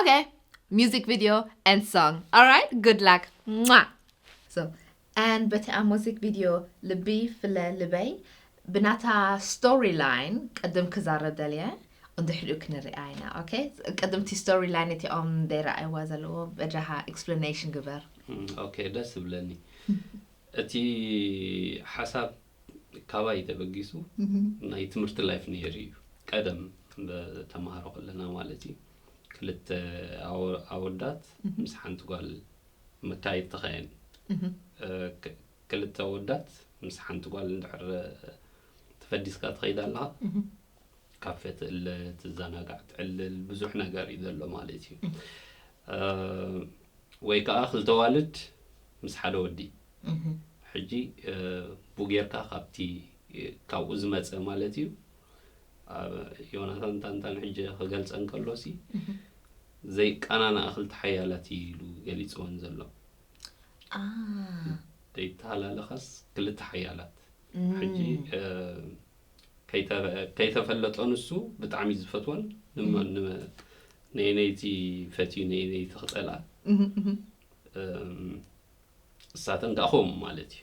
Okay, music video and song. All right, good luck. Mwah! So, and በቲ ኣብ ሙዚክ ቪድዮ ልቢ ፍለ ልበይ ብናታ ስቶሪ ላይን ቅድም ክዛረብ ደልየ እንድሕሪኡ ክንርኣ ኢና ኦኬ ቅድም እቲ ስቶሪ ላይን እቲኦም ደይረኣይዋ ዘለዎ በጃኻ ኤክስፕላኔሽን ግበር ኦኬ ደስ ዝብለኒ እቲ ሓሳብ ካባይ ተበጊሱ ናይ ትምህርቲ ላይፍ ነይሩ እዩ ቀደም ተምሃሮ ከለና ማለት እዩ ክልተ ኣወዳት ምስ ሓንቲ ጓል መካየድ ተኸየን ክልተ ኣወዳት ምስ ሓንቲ ጓል እንድሕር ተፈዲስካ ትኸይድ ኣለኻ ካፌ ትእለ ትዘናጋዕ ትዕልል ብዙሕ ነገር እዩ ዘሎ ማለት እዩ ወይ ከኣ ክልተ ኣዋልድ ምስ ሓደ ወዲ ሕጂ ቡ ጌርካ ካብቲ ካብኡ ዝመፀ ማለት እዩ ዮናታን ታንታን ሕጂ ክገልፀ እንከሎ ሲ ዘይቀናንኣ ክልተ ሓያላት እዩ ኢሉ ገሊፅወን ዘሎ ዘይተሃላለኻስ ክልተ ሓያላት ሕጂ ከይተፈለጦ ንሱ ብጣዕሚ ዝፈትወን ነይነይቲ ፈትዩ ነይነይቲ ክፀልኣ እሳተን ከዓ ከምኡ ማለት እዩ